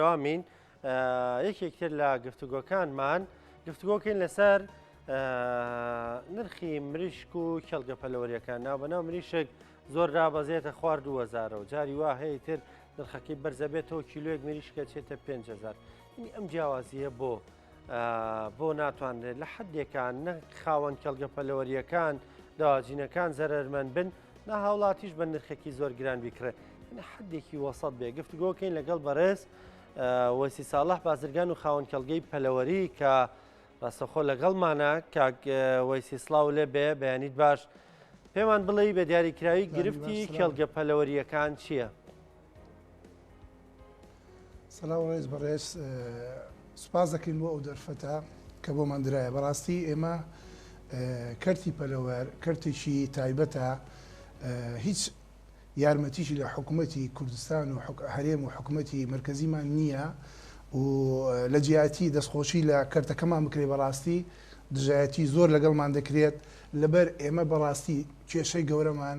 بەردەوامین یەکێک تر لە گفتوگۆکانمان گفتوگۆکەین لەسەر نرخی مریشک و کێڵگە پەلەوەریەکان ناو بەناو مریشک زۆر رابەزێتە خوار 2000 و جاری وا هەیە تر نرخەکەی بەرزەبێتەوە کیلوێک مریشکە چێتە 5هزار ئەم جیاوازیە بۆ بۆ ناتوانرێت لە حدێکان نە خاوەن کەلگە پەلەوەریەکان داواجینەکان زەرمەند بن نا هاوڵاتیش بە نرخێکی زۆر گران بیکڕێت حدێکی وەسەد بێ گفتگۆکەین لەگەڵ بەڕێز وەسی ساڵح بازرگان و خاوەن کەلگەی پەلەوەری کە ڕاستەخۆ لەگەڵمانە کاک وەسی سلااو لێ بێ بەیانیت باش پێمان بڵێ بە دیاریکراوی گرفتی کێڵگە پەلەوەریەکان چییە؟ سلاو ڕێز بەڕێز سوپاس دەکەین بۆ ئەو دەرفەتە کە بۆمان درایە بەڕاستی ئێمە کەرتی پەلەوەر کەرتێکی تایبەتە هیچ یارمەتیشی لە حکوومەتتی کوردستان و هەرێم و حکوومەتتی مرکزیمان نییە و لە جیاتی دەستخۆشی لە کەرتەکەمان بکرێ بەڕاستی دژایەتی زۆر لەگەڵمان دەکرێت لەبەر ئێمە بەڕاستی کێشەی گەورەمان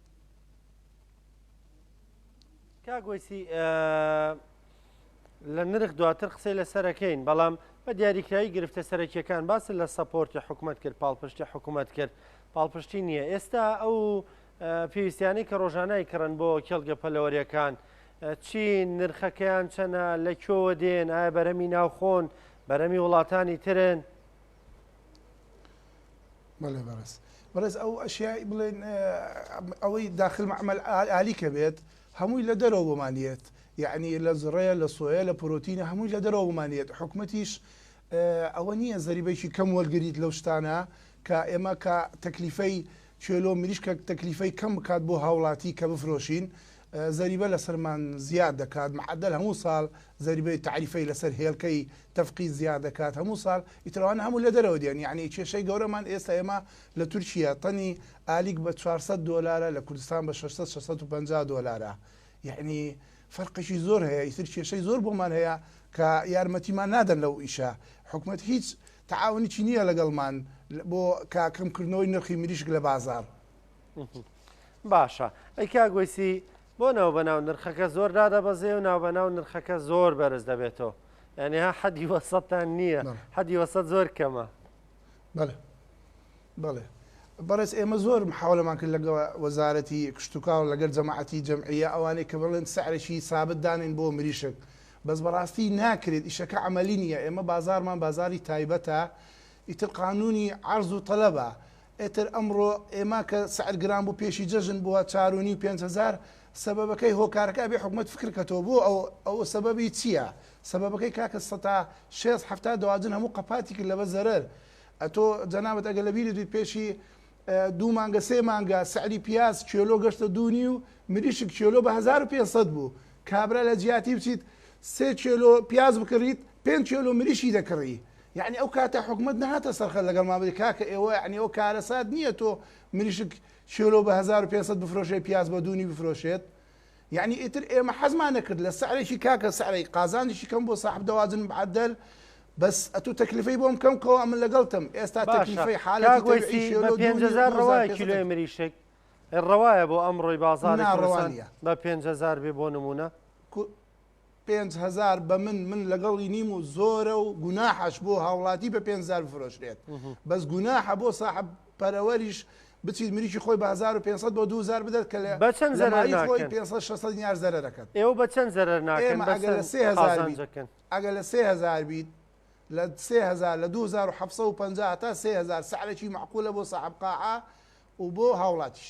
کاک وەیسی لە نرخ دواتر قسەی لەسەرەکەین بەڵام بە دیاریکراوی گرفتە سەرەکیەکان باس لە سەپۆرتی حکوومەت کرد پاڵپشتی حکوومەت کرد پاڵپشتی نییە ئێستا ئەو پێویستیانی کە ڕۆژانای کڕن بۆ کێڵگە پەلەوەریەکان چی نرخەکەیان چەنە لە کۆوە دێن ئایا بەرەمی ناوخۆن بەرەمی وڵاتانی ترن بەڵێ بەڕێز بەڕێز ئەو ئەشیایی بڵێن ئەوەی داخل مەعمل ئالیکە بێت هەمووی لە دەرەوە بۆمانیت یعنی لە زڕەیە لە سۆیە لە پرۆتینە هەمووی لە دەرەوە بمانێت حکومەتیش ئەوە نییە زەریبێکی کەم وەرگیت لەو شتانە کە ئێمە کە تەکلیفەی چێلۆ مریشکە تەکلیفەی کەم بکات بۆ هاوڵاتی کە بفرۆشین زەریبە لەسەرمان زیاد دەکات معدل هەموو ساڵ زەریبەی تعریفەی لەسەر هێلکەی تەفقی زیا دەکات هەموو سال ئیتر ئەوانە هەموو لە دەرەوە دێن یەعنی کێشەی گەورەمان ئێستا ئێمە لە تورکیە تەنی ئالیک بە چوار سەد دۆلارە لە کوردستان بە شەش سەد شەش سەد و پەنجا دۆلارە یەعنی فەرقێکی زۆر هەیە ئیتر کێشەی زۆر بۆمان هەیە کە یارمەتیمان نادەن لەو ئیشە حکومەت هیچ تەعاونیی نییە لەگەڵمان بۆ کە کەمکردنەوەی نرخی مریشک لە بازار. باشە ئەی کاک وەیسی بۆ ناوبەناو نرخەکە زۆر دادەبەزێ و ناوبەناو نرخەکە زۆر بەرز دەبێتەوە یعنی ها حەدی وەسەتان نییە حەدی وەسەت زۆر کەمە بەڵێ بەڵێ بەڕێز ئێمە زۆر محاولەمان کرد لەگە وەزارەتی کشتتوکاو لەگەر جەماعەتی جەمعە ئەوانەی کە بڵێن سعرێکی سابت دانین بۆ مریشک بەس بەڕاستی ناکرێت ئیشەکە عملی نییە ئێمە بازارمان بازاری تایبەتە ئیتر قانونی عرض و طلبە ئیتر ئەمڕۆ ئێمە کە سعر گران بوو پێشی جەژن بووە چار و نیو پێنج هەزار سەبەبەکەی هۆکارەکە ئەبێ حکومەت فکر کەتەوە بۆ ئەو ئەوە سەبەبی چیە سەبەبەکەی کاکە سەتا شێست حەفتا دەواجن هەموو قەپاتی کرد لەبە زەرەر ئەتۆ جەنابت ئەگەر لەبیرت بیت پێشی دوو مانگە سێ مانگە سعری پیاز کێلۆ گەشتە دوو نیو مریشک کێلۆ بە هەزار و پێنج سەد بوو کابرا لە جیاتی بچیت سێ کێلۆ پیاز بکڕیت پێنج کێلۆ مریشکی دەکڕی یەعنی ئەو کاتە حکومەت نەهاتە سەر خەت لەگەڵمان بڵێ کاکە ئێوە یەعنی ئەوە کارەسات نییە تۆ مریشک کێلۆ بە هەزار و پێنج سەد بفرۆشێ پیاز بە دوو نی بفرۆشێت یەعنی ئیتر ئێمە حەزمان نەکرد لە سعرێکی کاکە سعرێک قازانجێکی کەم بۆ ساحەب دەوازن معەدەل بەس ئەتوو تەکلیفەی بۆم کەم کەوە من لەگەڵتم ئێستا باشە تەکلیفەی حالەتی کاک تەوعی وەیسی بە کێلۆ دوو پێنج نی و هەزار دوو هەزار ڕەوایە پێنج سەد کیلۆی تەک- مریشک ڕەوایە بۆ ئەمڕۆی بازاڕی نا ڕەوا کوردستان نییە بە پێنج هەزار بێ بۆ نموونە کو- پێنج هەزار بە من من لەگەڵی نیم و زۆرە و گوناحەش بۆ هاوڵاتی بە پێنج هزار بفرۆشرێت بەس گوناحە بۆ ساحب پەرەوەریش بچیت مریکی خۆی بە 1500 بۆ 2000 بدەت کە لە بە چەند لە زەرەر مالی خۆی ناکەن 500 600 دینار زەرە دەکەن ئێوە بە چەند زەرەر ناکەن ئێمە ئەگەر لە بەسەر 3000 بیت قازانجەکەن ئەگەر لە 3000 بیت لە 3000 لە 2750 تا 3000 سعرێکی معقولە بۆ ساحب قاعە و بۆ هاوڵاتیش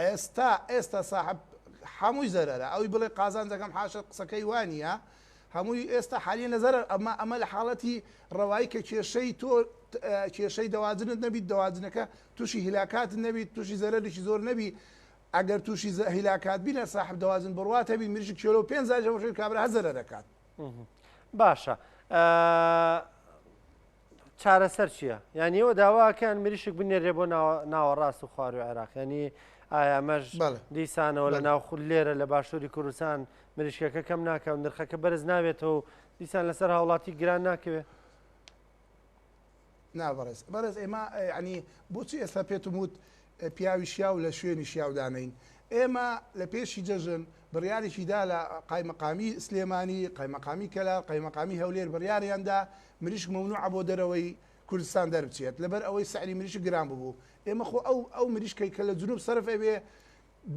ئێستا ئێستا ساحەب حەمووی زەرەرە ئەوی بڵێ قازانجەکەم حاشە قسەکەی وانە هەمووی ئێستا حالیە لە زەرەر ئەمە ئەمە لە حاڵەتی ڕەوایی کە کێشەی تۆ کێشەی دەواجنت نەبیت دەواجنەکە تووشی هیلاکات نەبیت تووشی زەرەرێکی زۆر نەبی ئەگەر تووشی هیلاکات بینە ساحب دەواجن بڕواتە بی مریژ کێلو پێ زارەوەژێت کابرا هەزەرە دەکات باشە چارەسەر چیە یان ئێوە داواکەن مریشک بنێرێ بۆ ناوەڕاست و خواروی عێراق ینی ئایامەش دیسانەوە لە ناو خود لێرە لە باشووری کوردستان مریشکەکە کەم ناکەون نرخەکە بەرز ناوێتەوە و دیسان لەسەر هاوڵاتی گران ناکەوێت نابڕێز بەڕێز ئێمە ینی بۆچی ئێستا پێتم وت پیاوی شیاو لە شوێنی شیاودانین ئێمە لە پێشی جەژن بڕیارێکیدا لە قایمەقامی سلێمانی قایمەقامی کەلا قایمەقامی هەولێر بڕیاریاندا مریشک مەمنوعە بۆ دەرەوەی کوردستان دەربچێت لەبەر ئەوەی سعری مریشک گران ببوو ئێمە خۆ ئەو ئەو مریشکەی کە لە جنوب سەرف ئەبێ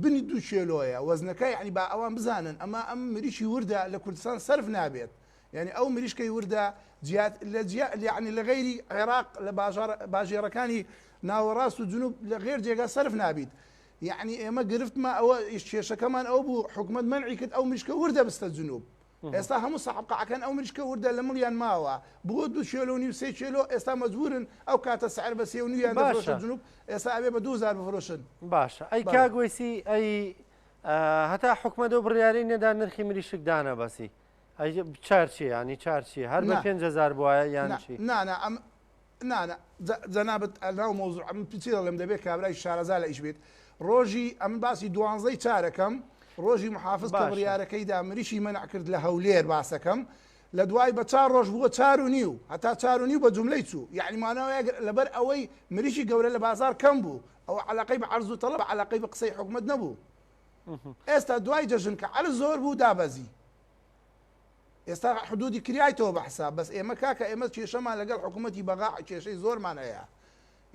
بنی دوو کێلۆیە وەزنەکە یعنی با ئەوان بزانن ئەما ئەم مریشی وردە لە کوردستان سەرف نابێت یعنی ئەو مریشکەی وردە جیات لە جیا یعنی لە غیری عێراق لە باژار باژێرەکانی ناوەڕاست و جنوب لە غێر جێگا سەرف نابیت یعنی ئێمە گرفتمە ئەوە ئیش کێشەکەمان ئەو بوو حکومت منعی کرد ئەو مریشکە وردە بستە جنوب ئێستا هەموو سەحب قەعەکان ئەو مریشکە وردە لە مڵیان ماوە بۆ دوو کێلۆ و نیو سێ کێلۆ ئێستا مەجبورن ئەو کاتە سعر بە سێ و نیویان دەفرۆشرا جنوب ئێستا ئەبێ بە دوو هەزار بفرۆشن باشە ئەی کاک وەیسی ئەی هەتا حکومەت و بڕیاری نەدا نرخی مریشک دانەبەسی چارچی ینی چارچی هەر بە پێنج هزار بواە یان چی نانە ئەم نا نا جەنابت ناو مەوزوع ئەمن چی دەڵێم دەبێت کابرای شارەزا لە ئیش بیت ڕۆژی ئەمن باسی دوانزەی چارەکەم ڕۆژی محافز کە بڕیارەکەی دا مریشی مەنع کرد لە هەولێر باسەکەم لە دوای بە چار ڕۆژ بووە چار و نیو هەتا چار و نیو بە جملەی چوو یعنی ماناوە لەبەر ئەوەی مریشی گەورە لە بازار کەم بوو ئەو علاقەی بە عرض و طلب علاقەی بە قسەی حکومت نەبوو ئێستا دوای جەژن کە عرض زۆر بوو دابەزی ئێستا حدودی کرایتەوە بە حساب بەس ئێمە کاکە ئێمە کێشەمان لەگەڵ حکومەتی بەغا کێشەی زۆرمان هەیە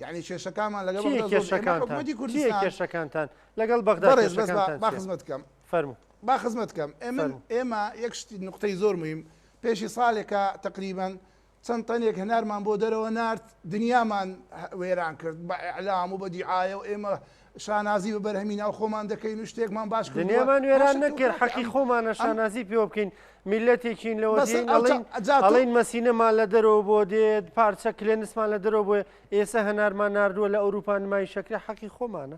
یانی کێشەکانمان لەگەڵ بەغدا زۆر ئێمە حکومەتی کوردستان کێشەکانتان لەگەڵ بەغدا بەڕێز بەس با خزمەت بکەم فەرموو با خزمەت بکەم ئێمە ئێمە یەک شتی نقطەی زۆر مهم پێشی ساڵێکە تقریبا چەند تەنێک هەنارمان بۆ دەرەوە نارد، دنیامان وێران کرد بە ئیعلام و بە دیعایە و ئێمە شانازی بە بەرهەمی ناو خۆمان دەکەین و شتێکمان باش کردووە. دنیامان وێران نەکرد، حەقی خۆمانە شانازی پێوە بکەین، میللەتێکین لەوە دێین ئەڵێین ئەڵێین مەسینەمان لە دەرەوە بۆ دێت، پارچە کلێنسمان لە دەرەوە بۆیە، ئێسە هەنارمان ناردووە لە ئەوروپا نمایشەکرێ، حەقی خۆمانە.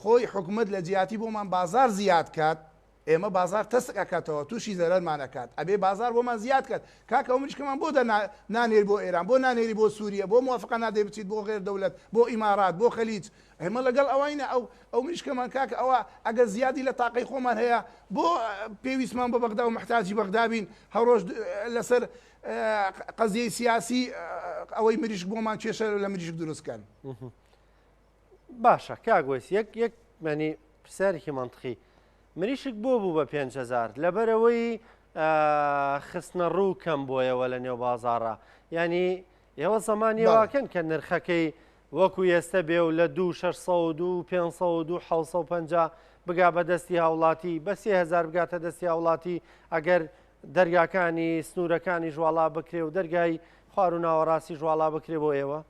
خۆی حکومەت لە جیاتی بۆمان بازار زیاد کات ئێمە بازار تەسک ئەکاتەوە توشی زەرەرمان ئەکات ئەبێ بازار بۆمان زیاد کات کاکە ئەو مریشکەمان بۆ دە نانێری بۆ ئێران بۆ نانێری بۆ سوریە بۆ موافقە نادەی بچیت بۆ غێر دەولەت بۆ ئیمارات بۆ خەلیج ئێمە لەگەڵ ئەوەینە ئەو ئەو مریشکەمان کاکە ئەوە ئەگەر زیادی لە تاقەی خۆمان هەیە بۆ پێویستمان بە بەغدا و محتاجی بەغدا بین هەڕۆژ لەسەر قەزیەی سیاسی ئەوەی مریشک بۆمان کێشە لە مریشک دروستکەن. باشە کاک وەیس یەک یەک مەنی پرسیارێکی مەنتقی مریشک بۆ بوو بە 5هزار لەبەرەوەی خستنە ڕوو کەم بۆیەوە لە نێو بازارە ینی ئێوە زمانیواکەن کە نرخەکەی وەکو ئێستا بێ و لە دو 600 550 بگا بە دەستی هاوڵاتی بە 3هزار بگاتە دەستی هاوڵاتی ئەگەر دەرگاکانی سنوورەکانی ژواڵا بکرێ و دەرگای خوار و ناوەڕاستی ژواڵا بکرێ بۆ ئێوە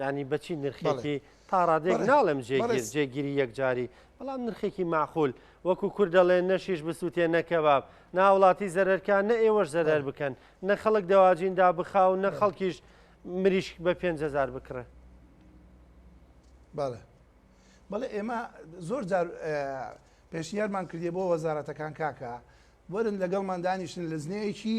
ینی بەچی نرخێکی تا ڕادێک ناڵم جێگیر جێگیری یەکجاری بەڵام نرخێکی معخول وەکو کورد دەڵێن نەشیش بسووتێ نەکەباب ناوڵاتی زەرەرکان نە ئێوەش زەرەر بکەن نە خەڵک دەواجیندا بخاو نە خەڵکیش مریشک بە 5هزار بکڕێ بەڵێ بەڵێ ئێمە زۆر جار پێشنیارمان کردی بۆ وەزارەتەکان کاکە وەرن لەگەڵمان دانیشتن لە زنەیەکی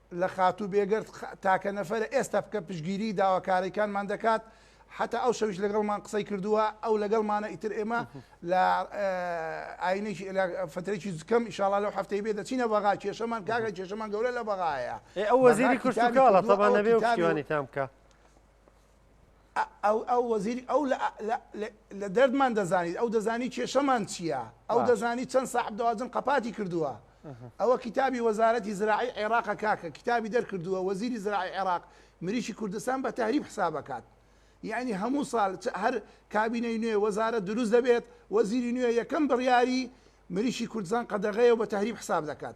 لە خاتوو بێگەرد تاکە نەفەرە ئێستا بکە پشتگیری داواکاریکانمان دەکات حەتا ئەو شەویش لەگەڵمان قسەی کردووە ئەو لەگەڵمانە ئیتر ئێمە لە ئاینێکی فترێکی زکەم ئیشاڵا لەو هەفتەی بێ دەچینە بەغا کێشەمان کاگە کێشەمان گەورە لە بەغایە ئەو وەزیری کوردستان بکە ئەو وەزیری ئەو لە دەردمان دەزانیت ئەو دەزانی کێشەمان چییە ئەو دەزانی چەند ساحب دەواجن قەپاتی کردووە ئەوە کتابی وەزارەتی زراعی عێراق کاکە کتابی دەرکردووە وەزیری زراعی عێراق مریشی کوردستان بە تەریب حسابەکات یعنی هەموو ساڵ هەر کابینەی نوێ وەزارە دروست دەبێت وەزیری نوێ یەکەم بڕیاری مریشی کوردستان قەدەغەیە بە تەریب حساب دەکات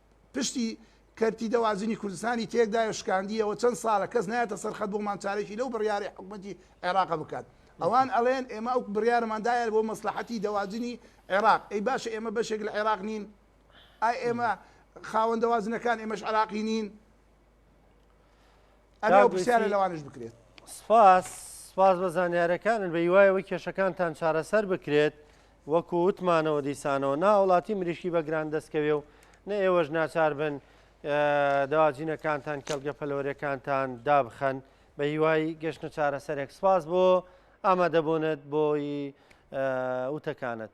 پشتی کەرتی دەواجنی کوردستانی تێکدایەو شکاندیەوە چەند ساڵە کەس نایەتە سەر خەت بۆمان چارەکی لەو بڕیارەی حکومەتی عێراق بکات ئەوان ئەڵێن ئێمە ئەو بڕیارەمان دایە بۆ مەسلەحەتی دەواجنی عێراق ئەی باشە ئێمە بەشێک لە عێراق نین ئای ئێمە خاوەن دەواجنەکان ئێمەش عێراقی نین سپاس سپاس بە زانیارەکانن بە هیوایەوە کێشەکانتان چارەسەر بکرێت وەکو وتمانەوە دیسانەوە ناوڵاتی مریشکی بە گران دەستکەوێ و نە ئێوەش ناچار بن داواجینەکانتان کەلگە پەلۆرەکانتان دابخەن بە هیوای گەشتە چارەسەرێک سپاس بۆ ئامادەبوونت بۆی وتەکانت.